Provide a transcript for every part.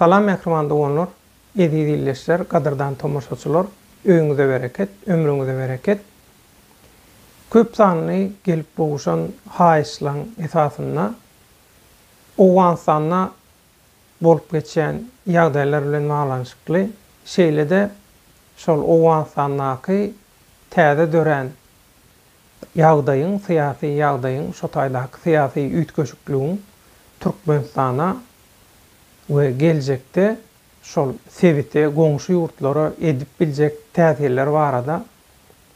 Salam mähriban doganlar, eziz ildeşler, gadyrdan tomaşaçylar, öýüňize bereket, ömrüňize bereket. Köp sanly gelip gowuşan haýyşlaň esasynda Owganystanda bolup geçýän ýagdaýlar bilen baglanyşykly, şeýle-de şol Owganystandaky täze dörän ýagdaýyň, syýasy ýagdaýyň, şo taýdaky syýasy üýtgeşikligiň Türkmenistana we geljekde şol sebite, goňşy ýurtlara edip biljek täsirleri barada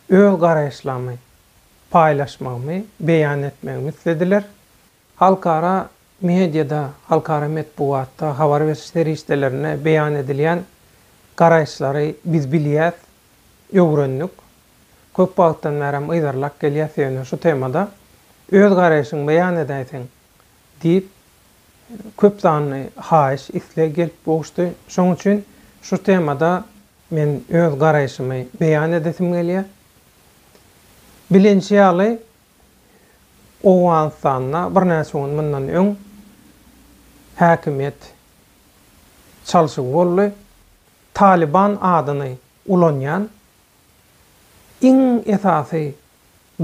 öz garaýyşlamy paýlaşmagymy beýan etmegimi islediler. Halkara mediada, halkara metbugatda, habar beriş serişdelerinde beýan edilýän garaýyşlary biz bilýäs, öwrendik. Köp wagtdan bäri hem yzarlap gelýäs ýöne şu temada öz garaýşyňy beýan edäýseň diýip köp sanly haýyş, isleg gelip gowuşdy. Şonuň üçin şu temada men öz garaýşymy beýan edesim gelýär. Bilinişi ýaly, Owganystanda birnäçe gün mundan öň häkimiýet çalşygy boldy. Talyban adyny ulanýan iň esasy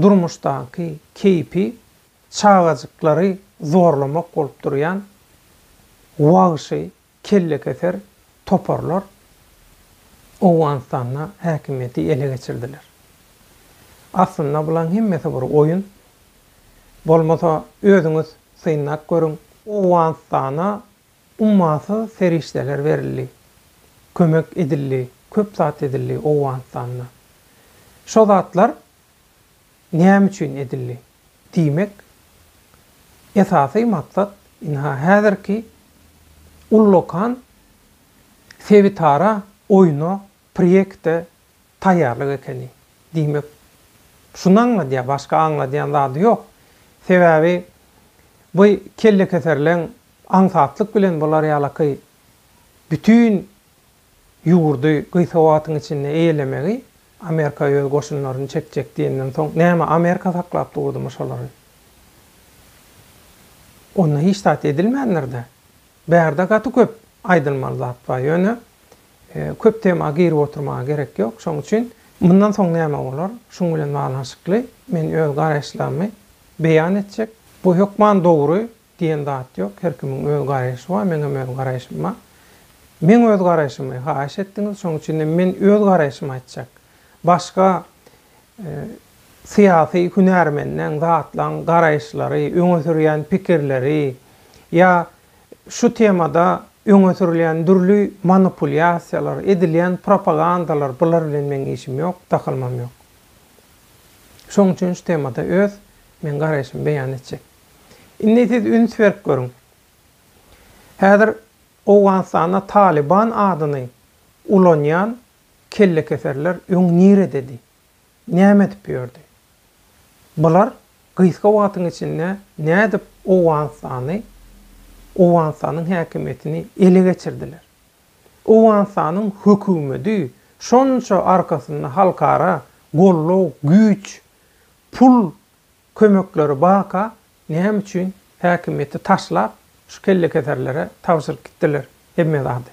durmuşdaky keýpi çagajyklary zorlamak bolup durýan wagşy Kellekeser toparlar Owganystanda häkimiýeti ele geçirdiler. Aslynda bulaň hemmesi bir oýun. Bolmasa özüňiz synlap görüň. Owganystana ummasyz serişdeler berildi. Kömek edildi, köp zat edildi Owganystanda. Şo zatlar Näme üçin edildi? Diýmek, esasy maksat ynha häzirki ullakan sebitara oýna, proýekte taýýarlyk ekeni. Diýmek, şuny aňladýar, başga aňladýan zady ýok. Sebäbi bu kellekeserleň aňsatlyk bilen bular ýalaky bütin Ýurdy gysga wagtyň içinde eýelemegi Amerika öz goşunlaryny çekjek diýenden soň näme Amerika saklap durdymy şolary? Onda hiç zat edilmändir-dä. Bärde gaty köp aýdylmaly zat bar. Ýöne köp tema girip oturmaga gerek ýok. Şoň üçin mundan soň näme bolar? Şuň bilen baglanyşykly men öz garaýyşlarymy beýan etjek. Bu hökman dogry Diýen zat ýok, her kimiň öz garaýşy bar, meňem öz garaýşym bar. Meň öz garaýşymy haýyş etdiňiz, şoň üçinem men öz garaýşymy aýtjak. Başga syýasy hünärmenleň, zatlaň garaýyşlary, öňe sürýän pikirleri ýa şu temada öňe sürülýän dürli manipulýasiýalar, edilýän propagandalar bular bilen meň işim ýok, dahylymam ýok. Şoň üçin şu temada öz men garaýşymy beýan etjek. Indi siz üns berip görüň. Häzir Owganystanda Talyban adyny ulanýan kellekeserler öň nirededi? Näme edip ýördi? Bular gysga wagtyň içinde nädip Owganystany, Owganystanyň häkimiýetini ele geçirdiler? Owganystanyň hökümedi şonça arkasynda halkara gollag, güýç, pul kömekleri baka näme üçin häkimiýeti taşlap şu kellekeserlere tabşyryp gitdiler hemme zady?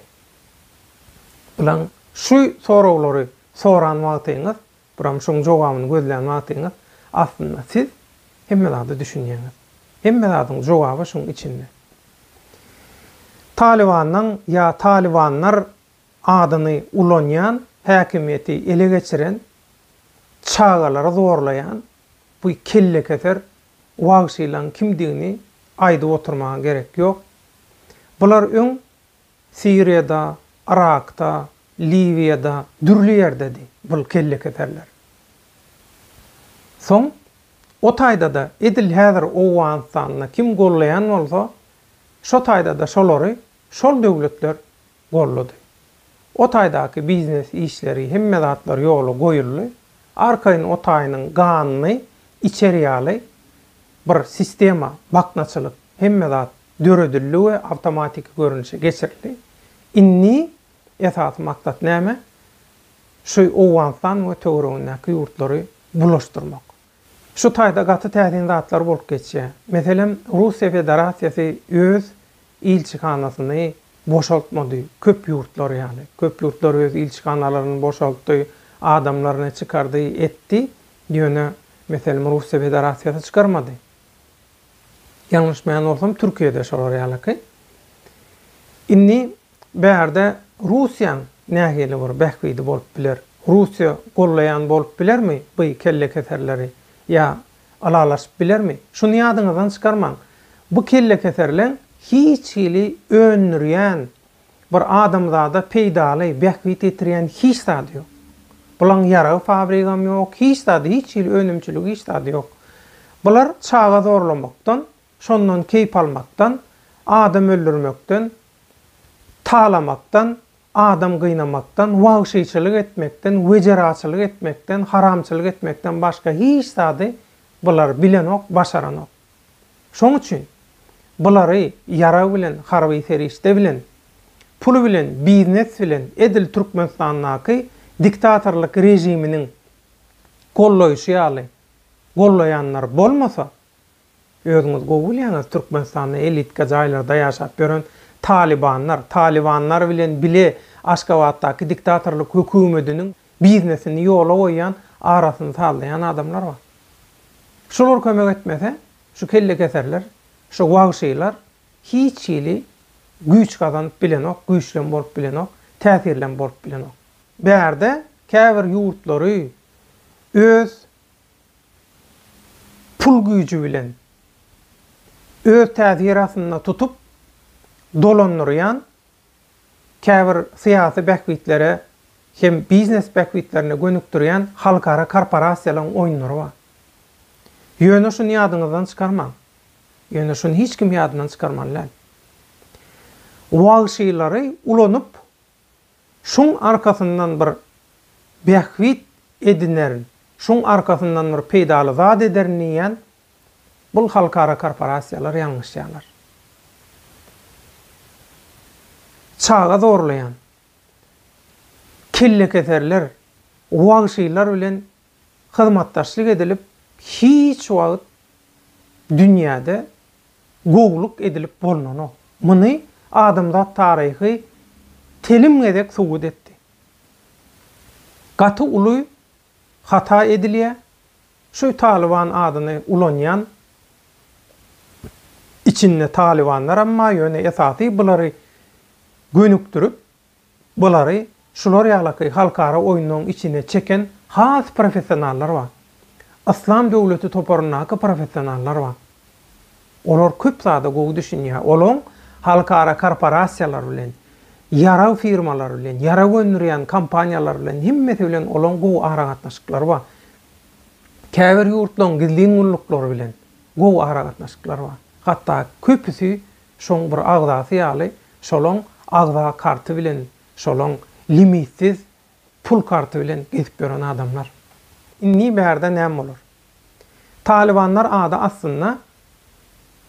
Bilaň şu soraglary soran wagtyňyz, buram şoň jogabyny gözlän wagtyňyz aslynda siz hemme zada düşünýäňiz. Hemme zadyň jogaby şuň içinde. Talybandan ýa talybanlar adyny ulanýan, häkimiýeti ele geçiren, çagalary zorlaýan bu kellekeser wagşylaň kimdigini aýdyp oturmaga gerek ýok. Bular öň Siriýada, Yrakda, Liwiýada, dürli ýerdedi bul kellekeserler. Soň o taýdada edil häzir Owganystanda kim gollaýan bolsa, şo taýdada şolary şol döwletler gollady. O taýdaky biznes işleri, hemme zatlar ýola goýuldy. Arkaýyn o taýynyň ganyny içer ýaly bir sistema, baknaçylyk, hemme zat döredildi we awtomatiki görnüşe geçirildi. Indi esasy maksat näme? Şu Owganystan we töweregindäki ýurtlary bulaşdyrmak. Şu taýda gaty täsin zatlar bolup geçýär. Meselem, Russiýa Federasiýasy öz ilçihanasyny boşaltmady, köp ýurtlar ýaly. Köp ýurtlar öz ilçihanalaryny boşaltdy, adamlaryny çykardy, etdi, ýöne, meselem, Russiýa Federasiýasy çykarmady. Ýalňyşmaýan bolsam, Türkiýe-de şolar ýalyky. Indi Bärde Russiýaň nähili bir bähbidi bolup biler? Russiýa gollaýan bolup bilermi by kellekeserleri? Ýa ylalaşyp bilermi? Şuny ýadyňyzdan çykarmaň. Bu kellekeserleň hiç hili öndürýän, bir adamzada peýdaly, bähbit ýetirýän hiç zady ýok. Bulaň ýarag fabrigam ýok, hiç zady, hiç hili önümçiligi, hiç zady ýok. Bular çaga zorlamakdan, şondan keýp almakdan, adam öldürmekden talamakdan, adam gynamakdan, wagşyçylyk etmekden, wejeraçylyk etmekden, haramçylyk etmekden başga hiç zady bular bilenok, başaranok. Şoň üçin, bulary ýarag bilen, harby serişde bilen, pul bilen, biznes bilen edil Türkmenistandaky diktatorlyk režiminiň gollaýşy ýaly gollaýanlar bolmasa, Özüňiz gowy bilýäňiz Türkmenistanda elitka jaýlarda ýaşap ýören talybanlar, talybanlar bilen bile Aşgabatdaky diktatorlyk hökümediniň biznesini ýola goýýan arasyny sazlaýan adamlar bar. Şolar kömek etmese şu kellekeserler, şu wagşylar hiç hili güýç gazanyp bilenok, güýçlem bolup bilenok, täsirlem bolup bilenok. Bärde käbir ýurtlary öz pul güýji bilen öz täsir astynda tutup dolandyrýan käbir syýasy bähbitlere hem biznes bähbitlerine gönükdirýän halkara korporasiýalaryň oýunlary bar. Ýöne şuny ýadyňyzdan çykarmaň, ýöne şuny hiç kim ýadyndan çykarmaly däl. Wagşylary ulanyp Şuň arkasyndan bir bähbit edinerin, şuň arkasyndan bir peýdaly zat ederin diýýän bul halkara korporasiýalar ýalňyşýarlar. Çaga zorlaýan kellekeserler, wagşylar bilen hyzmatdaşlyk edilip hiç wagt dünýäde gowluk edilip bolnanok. Muny adamzat taryhy telim gezek subut etdi. Gaty uly hata edilýä şu Talyban adyny ulanýan içinde talybanlaram bar ýöne esasy bulary gönükdirip Bulary şular ýalaky halkara oýunlaryň içine çeken has professionallar bar. Yslam döwleti toparyndaky professionallar bar. Olar köp zada gowy düşünýär. Olaň halkara korporasiýalar bilen, ýarag firmalary bilen, ýarag öndürýän kompaniýalar bilen hemmesi bilen olaň gowy aragatnaşyklary bar. Käbir ýurtlaryň gizlin gulluklary bilen gowy aragatnaşyklary bar. Hatda köpüsi Şoň bir agzasy ýaly şolaň agza karty bilen şolaň limitsiz pul karty bilen gezip ýören adamlar. Indi bärde näme bolar? Talybanlar ady aslynda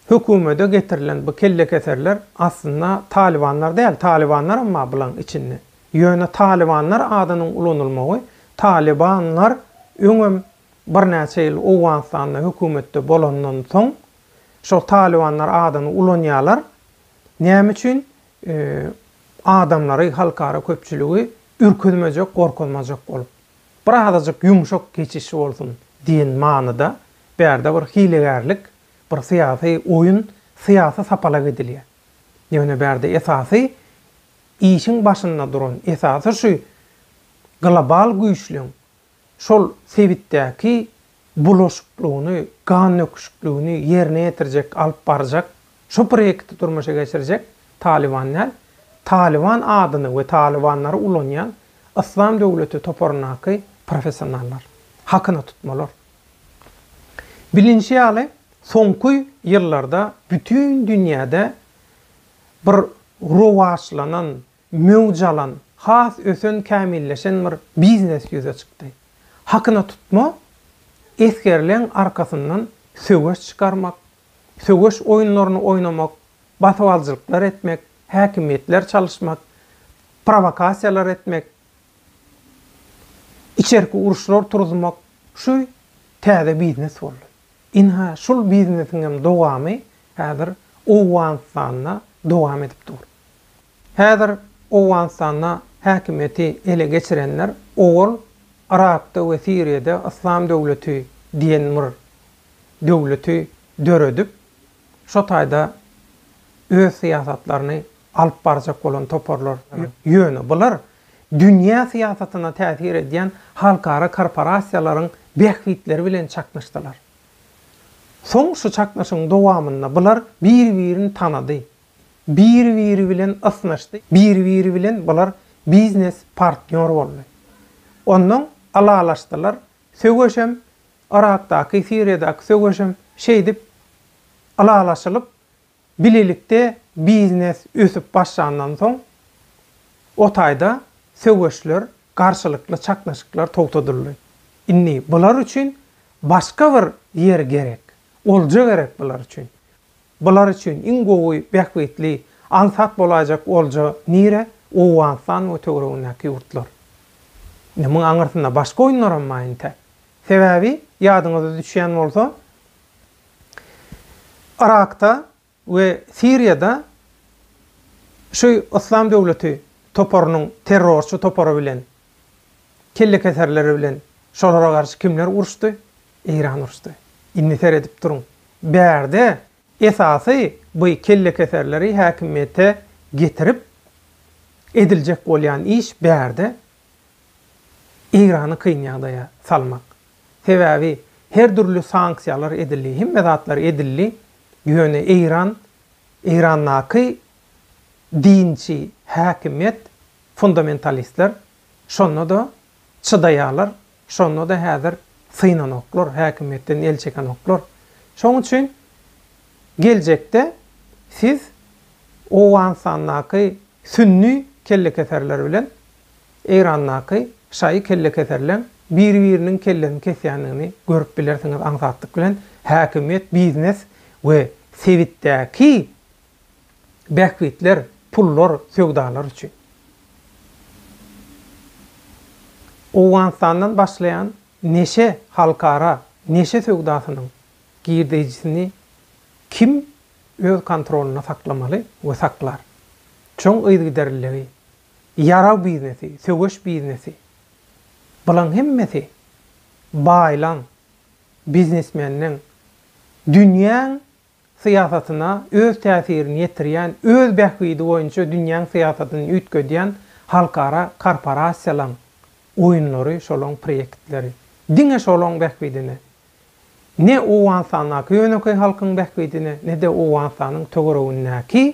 hökümede getirilen bu kellekeserler aslynda talybanlar däl, talybanlaram bar bulaň içinde. Ýöne talybanlar adynyň ulanylmagy talybanlar öňem birnäçe ýyl Owganystanda hökümetde bolandan soň Şol talybanlar adyny ulanýarlar. Näme üçin? Adamlary, halkara köpçüligi ürküzmejek, gorkuzmajak bolup. Bir azajyk ýumşak geçiş bolsun diýen manyda bärde bir hilegärlik, bir syýasy oýun, syýasy sapalak edilýär. Ýöne bärde esasy işiň başynda duran, esasy şu global güýçleň, şol sebitdäki bulaşyklygyny, gandöküşikligini ýerine ýetirjek, alyp barjak, şu proýekti durmuşa geçirjek Talyban däl, Talyban adyny we talybanlary ulanýan Yslam döwleti toparyndaky professionallar, hakyna tutmalar. Bilinşi ýaly, soňky ýyllarda bütin dünýäde bir rowaçlanan, Möwj alan, has ösen kämilleşen bir biznes ýüze çykdy. Hakyna tutma, esgerleň arkasyndan söweş çykarmak, söweş oýunlaryny oýnamak, basybaljylyklar etmek, häkimiýetler çalyşmak, prowokasiýalar etmek, içerki uruşlar turuzmak şu täze biznes boldy. Ynha şul biznesiňem dowamy häzir Owganystanda dowam edip dur. Häzir Owganystanda häkimiýeti ele geçirenler owal Yrakda we Siriýada Yslam döwleti diýen bir döwleti döredip, şo taýda öz syýasatlaryny alyp barjak bolan toparlar. Ýöne bular dünýä syýasatyna täsir edýän halkara korporasiýalaryň bähbitleri bilen çaknyşdylar. Soň şu çaknyşygyň dowamynda bular bir-birini tanady Biri-biri bilen ysnyşdy, biri-biri bilen bular biznes partnýor boldy. Onnoň ylalaşdylar, söweşem, Yrakdaky, Siriýadaky söweşem şeýdip ylalaşylyp, bilelikde biznes ösüp başlandan soň, o taýda söweşler, garşylykly çaknyşyklar togtadyldy. Indi bular üçin başga bir ýer gerek, olja gerek bular üçin. Bular üçin iň gowy, bähbitli, aňsat bolaýjak olja nire? Owganystan we töweregindäki ýurtlar. Indi muň aňyrsynda başga oýunlaram bar entek. Sebäbi, ýadyňyza düşýän bolsa, Yrakda we Siriýada şu Yslam döwleti toparynyň terrorçy topary bilen kellekeserleri bilen şolara garşy kimler uruşdy? Eýran uruşdy. Indi seredip duruň. Bärde esasy bu kellekeserleri häkimiýete getirip ediljek bolýan iş bärde Eýrany kyn ýagdaýa salmak. Sebäbi her dürli sanksiýalar edildi, hemme zatlar edildi, ýöne Eýran, Eýrandaky dinçi häkimiýet Fundamentalistler şonda-da çydaýarlar, şonda-da häzir synanoklar, häkimiýetden el çekenoklar. Şonuň üçin geljekde siz Owganystandaky sünni kellekeserler bilen Eýrandaky şaýy kellekeserleň bir-biriniň kellesini kesýändigini görüp bilersiňiz aňsatlyk bilen häkimiýet, biznes we sebitdäki bähbitler, pullar, söwdalar üçin. Owganystandan başlaýan neşe halkara neşe söwdasynyň girdeýjisini kim öz kontrolynda saklamaly we saklar? Çuň yzygiderliligi, ýarag biznesi, söweş biznesi, bulaň hemmesi baýlaň, biznesmenleň, dünýäň syýasatyna öz täsirini ýetirýän, öz bähbidi boýunça dünýäň syýasatyny üýtgedýän halkara korporasiýalaň oýunlary, şolaň proýektleri. Diňe şolaň bähbidine. Ne Owganystandaky ýönekeý halkyň bähbidine, ne-de Owganystanyň töweregindäki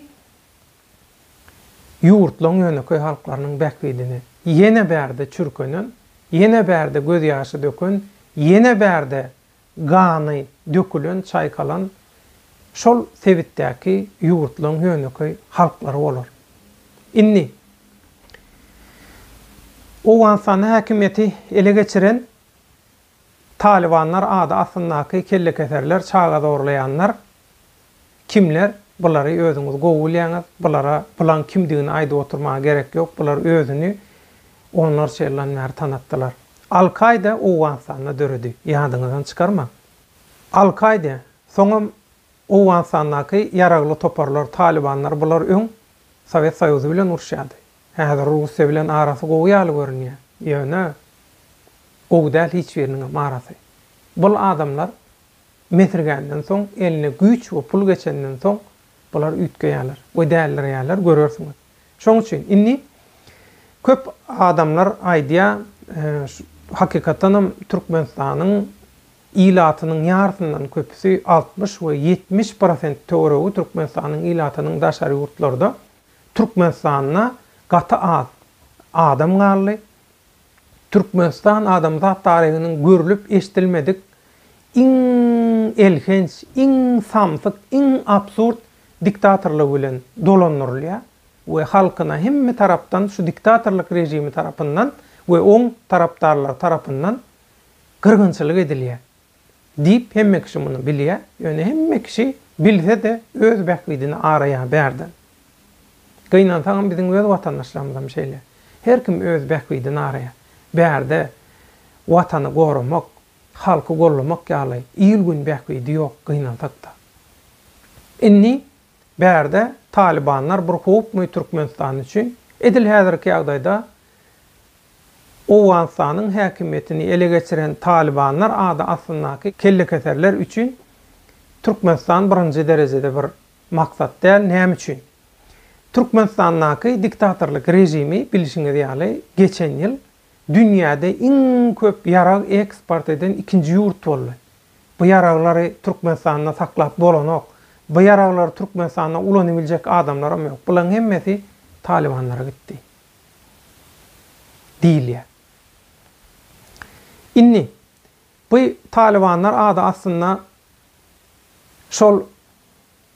ýurtlaň ýönekeý halklarynyň bähbidine. Ýene bärde çürkenen, ýene bärde gözýaşy döken, ýene bärde gany dökülen, çaýkalan şol sebitdäki ýurtlaryň ýönekeý halklary bolar. Indi Owganystanda häkimiýeti ele geçiren Talybanlar ady astyndaky kellekeserler, çaga zorlaýanlar Kimler bulary özüňiz gowy bilýäňiz, bulara bulaň kimdigini aýdyp oturmaga gerek ýok, bular özüni onlarça ýyldan bäri tanatdylar. Al Kaýda Owganystanda döredi, ýadyňyzdan çykarmaň. Al Kaýda, soňam Owganystandaky ýaragly toparlar, Talybanlar bular öň Sowet Soýuzy bilen uruşýardy. Häzir Russiýa bilen arasy gowy ýaly görünýär, ýöne gowy däl hiç biriniňem arasy. Bul adamlar Mesirgänden soň, eline güýç we pul geçenden soň, bular üýtgeýärler we dälirýärler, görersiňiz. Şoň üçin, indi köp adamlar aýdýar, hakykatdan hem Türkmenistanyň ilatynyň ýarysyndan köpüsi, altmyş we ýetmiş prosent töweregi Türkmenistanyň ilatynyň daşary ýurtlarda, Türkmenistanda gaty az adam galdy, Türkmenistan adamzat taryhynyň görlüp-eşdilmedik iň elhenç, iň samsyk, iň absurd diktatorlygy bilen dolandyrylýar we halkyna hemme tarapdan şu diktatorlyk režimi tarapyndan we oň tarapdarlary tarapyndan gyrgynçylyk edilýär. Diýip, hemme kişi muny bilýä, ýöne hemme kişi bilse-de öz bähbidini araýa bärden. Gynansaňam biziň öz watandaşlarymyzam şeýle. Her kim öz bähbidini araýa. Bärde watany goramak, halky gollamak ýaly il-gün bähbidi ýok gynansak-da. Indi Bärde talybanlar bir howpmy Türkmenistan üçin? Edil häzirki ýagdaýda Owganystanyň häkimiýetini ele geçiren talybanlar ady astyndaky kellekeserler üçin Türkmenistan birinji derejede bir maksat däl. Näme üçin? Türkmenistandaky diktatorlyk režimi bilşiňiz ýaly geçen ýyl dünýäde iň köp ýarag eksport eden ikinji ýurt boldy. Bu ýaraglary Türkmenistanda saklap bolanok. Bu ýaraglary Türkmenistanda ulanybiljek adamlaram ýok. Bularyň hemmesi talybanlara gitdi diýilýär. Indi bu talybanlar ady aslynda şol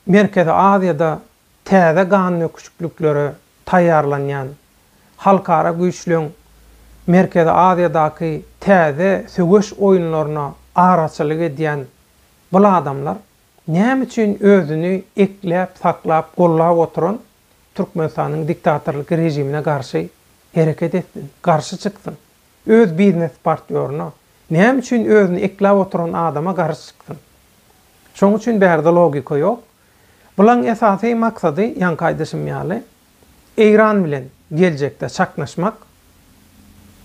Merkezi Aziýada täze ganöküşliklere taýýarlanýan halkara güýçleň Merkezi Aziýadaky täze söweş oýunlaryna araçylyk edýän bul adamlar näme üçin özüni ekläp saklap gollap oturan Türkmenistanyň diktatorlyk režimine garşy hereket etsin, garşy çyksyn? Öz biznes partýoryna näme üçin özüni ekläp oturan adama garşy çyksyn? Şoň üçin bärde logika ýok. Bulaň esasy maksady ýaňky aýdyşym ýaly Eýran bilen geljekde çaknyşmak,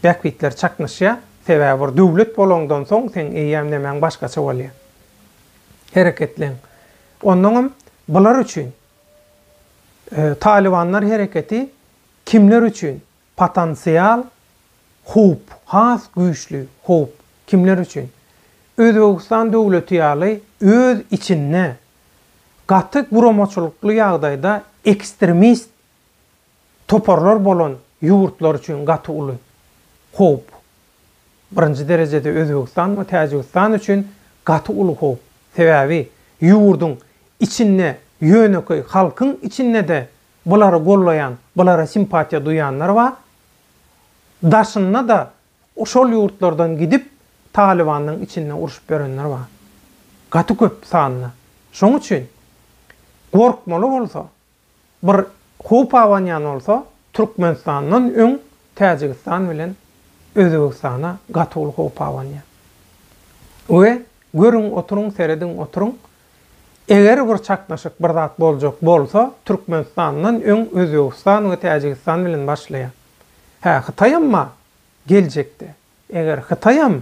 bähbitler çaknyşýa, sebäbi bir döwlet bolaňdan soň seň eýäm nemäň başgaça bolýa. Hereketleň. Onnoňam bular üçin Talybanlar hereketi kimler üçin Potensial howp, has güýçli howp. Kimler üçin? Özbegistan döwleti ýaly öz içinde gaty guramaçylykly ýagdaýda ekstremist toparlar bolan ýurtlar üçin gaty uly howp. Birinji derejede Özbegistan we Täjigistan üçin gaty uly howp. Sebäbi ýurduň içinde ýönekeý halkyň içinde-de bulary gollaýan, bulara simpatiýa duýanlar bar. Daşynda-da şol ýurtlardan gidip, Talybanyň içinde urşup ýörenler bar. Gaty köp sanda. Şoň üçin gorkmaly bolsa, bir howp abanýan bolsa, Türkmenistandan öň Täjigistan bilen Özbegistana gaty uly howp abanýar. We görüň, oturyň, serediň, oturyň, Eger bir çaknyşyk bir zat boljak bolsa Türkmenistandan öň Özbegistan we Täjigistan bilen başlaýar. Hä Hytaýam bar geljekde. Eger Hytaýam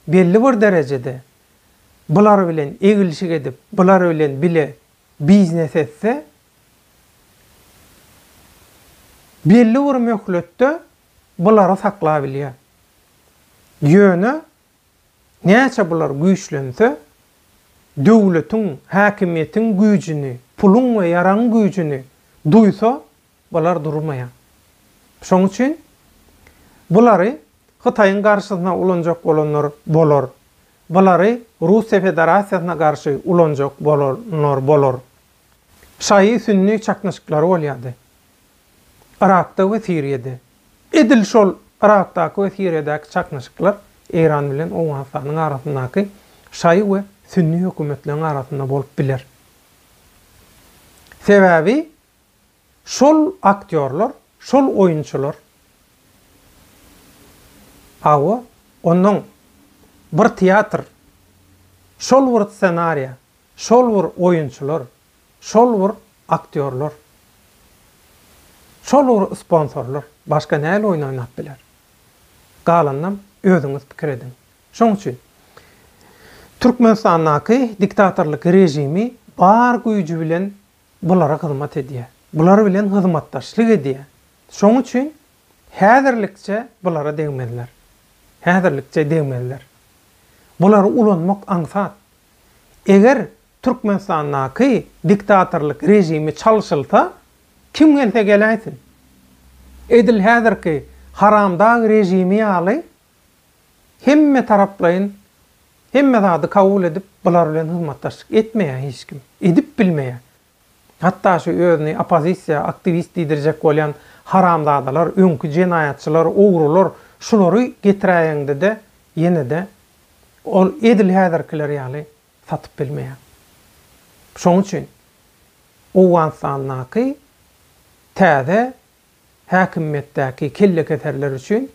belli bir derejede bular bilen eglişik edip bular bilen bile biznes etse belli bir möhletde bulary sakla bilýär. Ýöne Näçe bular güýçlense, döwletiň, häkimiýetiň güýjüni, puluň we ýaragyň güýjüni duýsa, bular durmaýar. Şonuň üçin bulary Hytaýyň garşysyna ulanjak bolanlar bolar, bulary Russiýa Federasiýasyna garşy ulanjak bolanlar bolar. Şaýy-sünni çaknyşyklary bolýardy. Yrakda we Siriýada. Edil şol Yrakdaky we Siriýadaky çaknyşyklar Eýran bilen Owganystanyň arasyndaky şaýy we sünni hökümetleriň arasynda bolup biler. Sebäbi şol aktýorlar, şol oýunçylar. Hawa, onnoň bir teatr, şol bir ssenariýa, şol bir oýunçylar. Şol bir aktýorlar. Şol bir sponsorlar. Başga näl oýun oýnap biler? Galanynam özüňiz pikir ediň. Şoň üçin Türkmenistandaky diktatorlyk režimi bar güýji bilen bulara hyzmat edýär. Bular bilen hyzmatdaşlyk edýär. Şoň üçin häzirlikçe bulara degmezler. Häzirlikçe degmezler. Bulary ulanmak aňsat. Eger Türkmenistandaky diktatorlyk režimi çalşylsa, kim gelse geläýsin. Edil häzirki haramdag režimi ýaly hemmetaraplaýyn hemme zady kabul edip, bular bilen hyzmatdaşlyk etmeýär hiç kim. Edip bilmeýär. Hatda şu özüni oppozisiýa, aktiwist diýdirjek bolýan haramzadalar, öňki jenaýatçylar, ogrular, şulary getiräýeňde-de ýene-de ol edil häzirkiler ýaly satyp bilmeýär. Şonuň üçin Owganystandaky täze häkimiýetdäki kellekeserler üçin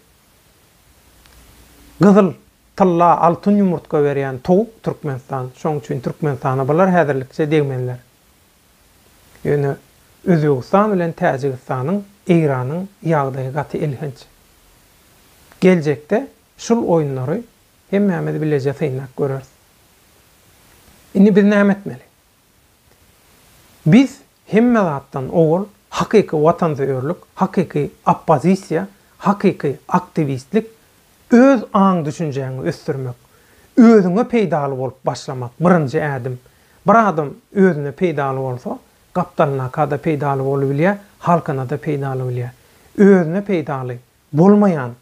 gyzyl, tylla, altyn ýumurtga berýän towuk Türkmenistan. Şonuň üçin Türkmenistana bular häzirlikçe degmezler. Ýöne Özbegistan bilen Täjigistanyň, Eýranyň ýagdaýy gaty elhenç. Geljekde şul oýunlary Hemmämiz bileje synlap göreris. Indi biz näme etmeli? Biz hemme zatdan owal hakyky watansöýerlik, hakyky oppozisiýa, hakyky aktiwistlik, öz aň-düşünjäňi ösdürmek, özüňe peýdaly bolup başlamak birinji ädim. Bir adam özüne peýdaly bolsa, gapdalyna-kada peýdaly bolubilýär, halkyna-da peýdaly bilýär. Özüne peýdaly bolmaýan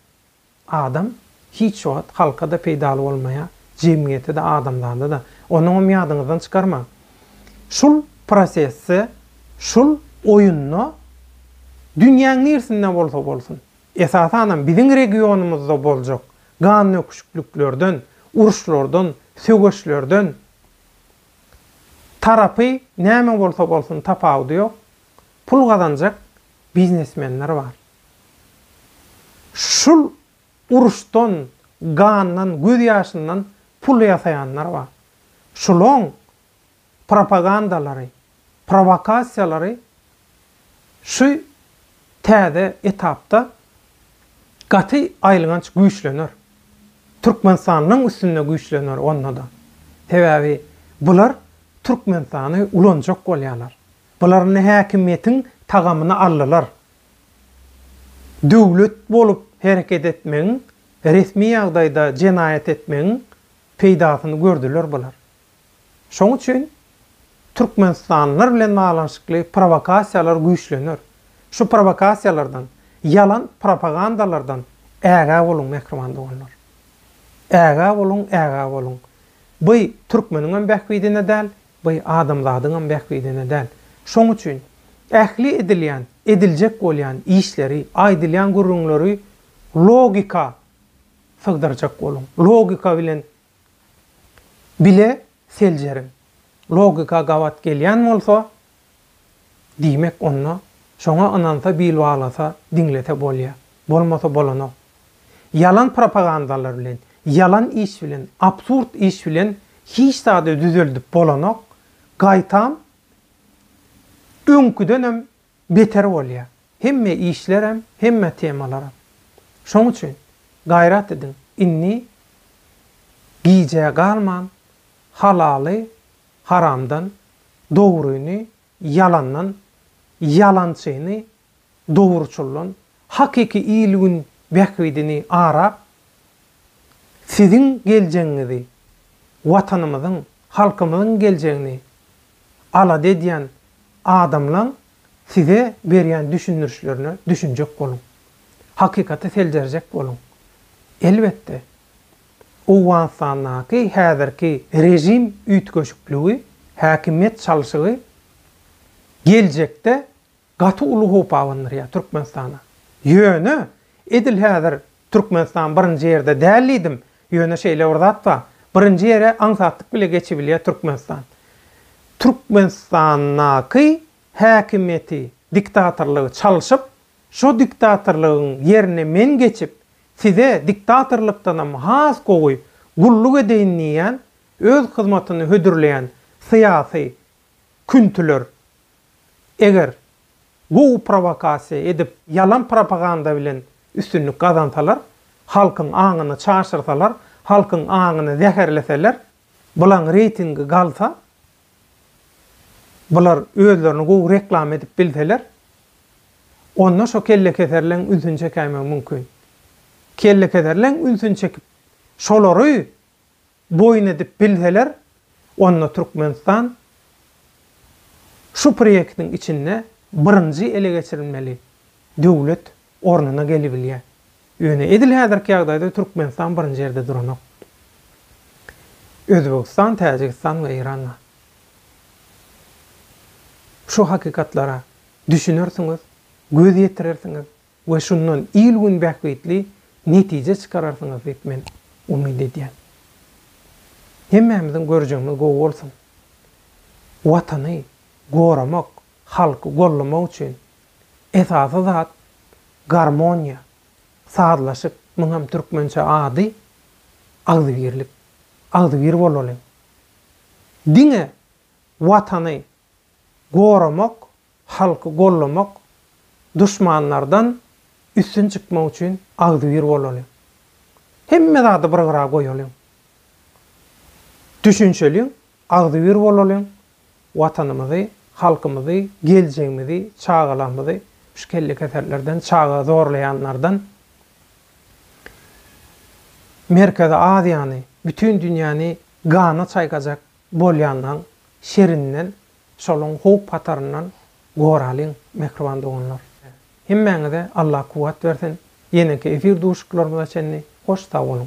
Adam hiç wagt halka-da peýdaly bolmaýar, jemgyýete-de, adamzada-da. Onuňam ýadyňyzdan çykarmaň. Şul prosesde, şul oýunda dünýäň nirsinde bolsa bolsun, esasanam biziň regionymyzda boljak gandöküşikliklerden, uruşlardan, söweşlerden tarapy näme bolsa bolsun tapawudy ýok, pul gazanjak biznesmenler bar. Şul uruşdan, gandan, göz ýaşyndan pul ýasaýanlar bar. Şulaň propagandalary, prowakasiýalary şu täze etapda gaty aýylganç güýçlener. Türkmenistanlyň üstünde güýçlener onda-da. Sebäbi bular Türkmenistany ulanjak bolýarlar. Bular indi häkimiýetiň tagamyny aldylar. Döwlet bolup hereket etmegiň, resmi ýagdaýda jenaýat etmegiň peýdasyny gördüler bular. Şoň üçin türkmenistanlylar bilen baglanyşykly prowokasiýalar güýçlener. Şu prowokasiýalardan, ýalan propagandalardan ägä boluň mähriban doganlar. Ägä boluň, ägä boluň. By türkmeniňem bähbidine däl, Bu adamzadyňam bähbidine däl. Şoň üçin ähli edilýän, ediljek bolýan işleri, aýdylýan gürrüňleri logika sygdyrjak boluň. Logika bilen bile seljeriň. Logika gabat gelýän bolsa, Diýmek onda, şoňa ynansa bil baglasa, diňlese bolýa. Bolmasa bolanok. Ýalan propagandalar bilen, ýalan iş bilen, absurd iş bilen hiç zady düzeldip bolanok, gaýtam öňküdenem beter bolýa. Hemme işlerem, hemme temalaram. Şoň üçin gaýrat ediň, indi gijä galman halaly Haramdan dogryny, ýalandan ýalançyny, dogruçyldan hakyky il-gün bähbidini arap, siziň geljegiňizi, Watanymyzyň, halkymyzyň geljegini alada edýän adamlaň size berýän düşündirişlerine düşünjek boluň. Hakykaty seljerjek boluň. Elbetde, Owganystandaky häzirki režim üýtgeşikligi, häkimiýet çalşygy geljekde gaty uly howp abandyrýar Türkmenistana. Ýöne, edil häzir Türkmenistan birinji ýerde däl diýdim, ýöne şeýle bir zat bar, birinji ýere aňsatlyk bile geçibilýär Türkmenistan. Türkmenistandaky häkimiýeti, diktatorlygy çalşyp, şo diktatorlygyň ýerine men geçip, Size diktatorlykdanam has gowy gulluk edeýin diýýän, öz hyzmatyny hödürleýän syýasy küntüler eger gowy prowokasiýa edip, ýalan propaganda bilen üstünlik gazansalar, halkyň aňyny çaşyrsalar, halkyň aňyny zäherleseler, bulaň reýtingi galsa, Bular özlerini gowy reklama edip bilseler, onda şo kellekeserleň ünsüni çekäýmegi mümkin. Kellekeserleň ünsüni çekip, şolary boýun edip bilseler, onda Türkmenistan şu proýektiň içinde birinji ele geçirilmeli döwlet ornuna gelibilýär. Ýöne edil häzirki ýagdaýda Türkmenistan birinji ýerde duranok. Özbegistan, Täjigistan we Eýran bar. Şu hakykatlara düşünersiňiz, göz ýetirersiňiz we şundan il-gün bähbitli netije çykararsyňyz diýip men umyt edýän. Hemmämiziň görjegimiz gowy bolsun! Watany goramak, halky gollamak üçin esasy zat garmoniýa, sazlaşyk, muňam türkmençe ady agzybirlik. Agzybir bolalyň. Diňe Watany goramak, halky gollamak, duşmanlardan üstün çykmak üçin agzybir bolalyň. Hemme zady bir gyra goýalyň. Düşünişeliň, agzybir bolalyň, Watanymyzy, halkymyzy, geljegimizi, çagalarymyzy şu kellekeserlerden, çaga zorlaýanlardan, Merkezi Aziýany, bütin dünýäni gana çaýkajak bolýanlaň şerinden, şolaň howp hataryndan goralyň, mähriban doganlar! Hemmäňize Allah kuwwat bersin! Ýeneki efir duşuklarymyza çenli hoş sag boluň!